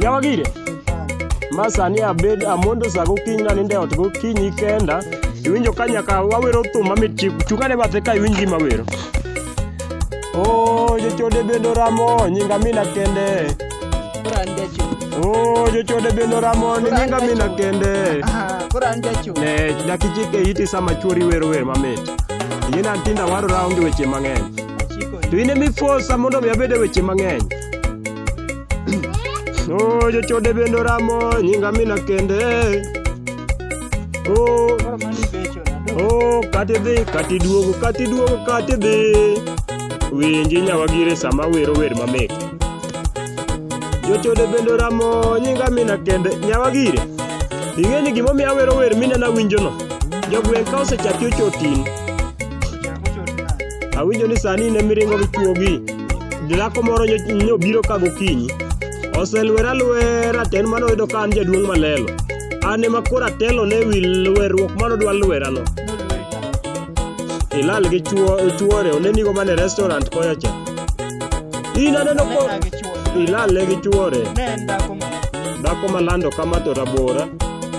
Yawagire. Masani abed amondo sa gokinyi naninde ot gokinyi kenda. Iwinjo ka nyaka wawero thum mamit chik chungane bathe ka iwinj gima wero. Oh, jochode bendo ramo nyinga mina kende. Koro an jacho. Oh, jochode bendo ramo ni nyinga mina kende. Aha, Koro an jacho. Ne dakichike iti sama chwori wero wer mamit. Yien antinda warora onge weche mang'eny. Achiko To in emifosa mondo mi abed e weche mang'eny. Oh, jochode bende oramo nyinga mina kende. Oh, Koro mano ibecho na do. oh, kati dhi, kati duogo, kati duogo, kati dhi. Winji nyawagire sama wero wer mamit. Jochode bende oramo nyinga mina kende. Nyawagire, ing'e ni gimomiyo awero wer minena winjono. Jogweng' ka osechaki ochotin, Chako choti na. awinjo ni sani in emiringo gi chuogi. Dhako moro nyobiro ka gokinyi, oselwera lwera to en mano oyudo ka an jaduong' malelo. An ema koro atelo ne wi lwerruok mano dwa lwerano. Ilal gi chuore, onenigo mana e restaurant koya cha. In aneno ko ilal ne gi chuore. Dhako malando kama to rabora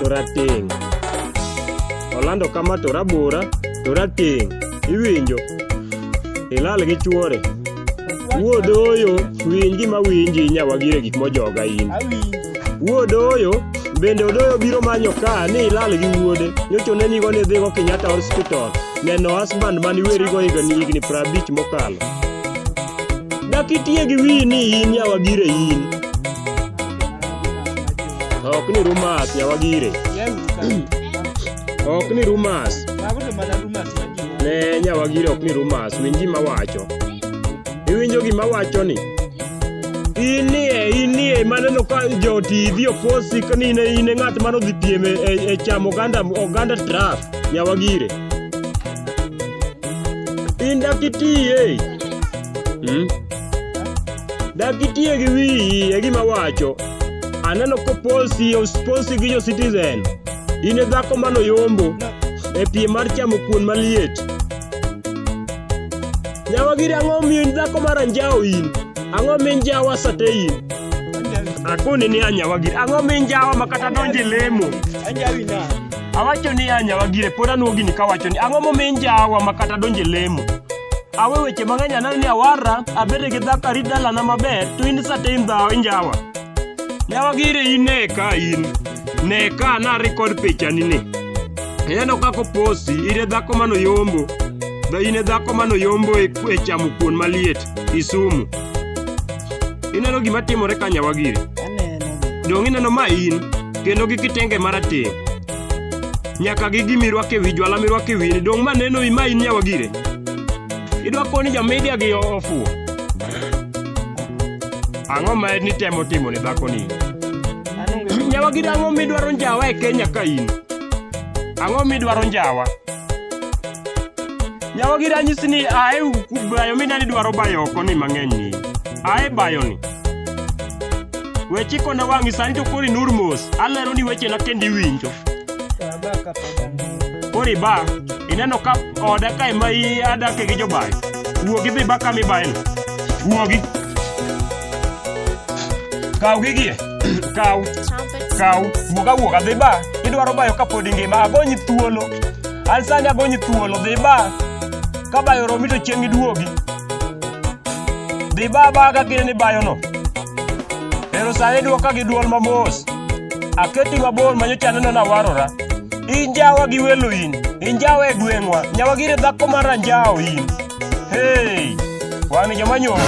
to rateng'. Olando kama to rabora to rateng'. Iwinjo? Ilal gi chuore. Wuod oyo, winj gima winji nyawagire gik mojoga in. Wuod oyo, bende odoyo biro manyo ka ni ilal gi wuode. Nyocha onenigo ni idhigo Kenyatta Hospital neno husband mani werigo higni higni prabich mokalo. Dak itiye gi wiyi ni in nyawagire in. Ok ni rumas nyawagire. Ok ni rumors. Mago to mana rumors manyien. Ne nyawagiri ok ni rumors. Winj gima wacho. Iwinjo gima wacho ni? Inie, inie, maneno ka jo TV oposi ka ni ne ine ng'at mano dhi piem e, e, e chamo oganda, oganda traf. Nyawagire. In dakitiye. Hmm? Dakitiye gi wiyi e gima wacho. Aneno koposi, osposi gi jo Citizen. In e dhako manoyombo e piem mar chamo kuon maliet. Nyawa giri ang'o miyo in dhako mar anjawo in? Ang'o min jawa sate in? Akoni ni anyawa giri. Ang'o min jawa ma kata donje lemo? Anjawi na. Awacho ni anyawa gire pod anuogi ni kawacho ni ang'o momin jawa ma kata donje lemo? Awe weche mang'eny aneno ni awarra abede gi dhako arit dalana maber to in sate in dhawo injawa. Nyawa gire in ne ka in. ne ka na record pichani ni ineno kaka oposi in e dhako mano yombo dha in e dhako mano yombo e, e chamo kuon maliet isumu ineno gima timore ka nyawa giri dong ineno ma in kendo gi kitenge marateng nyaka gi gimirwake wi jwala mirwake wini dong ma neno ma in nyawa gire idwa koni jamedia gi ofuo ang'o ma en nitemo timo ne dhakoni Nyawa gida ang'o midwaro njawa e Kenya ka in? Ang'o midwaro njawa? Nyawa gida anyisi ni ae bayo minani dwaro bayo oko ni mang'eny ni. Ae bayo ni. We chiko na wang'i sani to kori nur mos. Alero ni weche na kendi iwinjo. Kori ba, ineno ka oda ka ema i adake gi jobayo. Wuogi dhi ba kama ibaye no. Wuogi. Kaw gigie. kaw kaw wuog awuoga dhi ba idwaro bayo kapod ingima agonyi thuolo an sani agonyi thuolo dhi ba ka bayo oromi to chieng' iduogi dhi ba ba ka kine ni bayono ero sani dwoka gi dwol mamos aketi mabor manyocha aneno nawarora injawa gi welo in injawa e gweng'wa nyawagire dhako mar anjawo in hey wan joma nyoro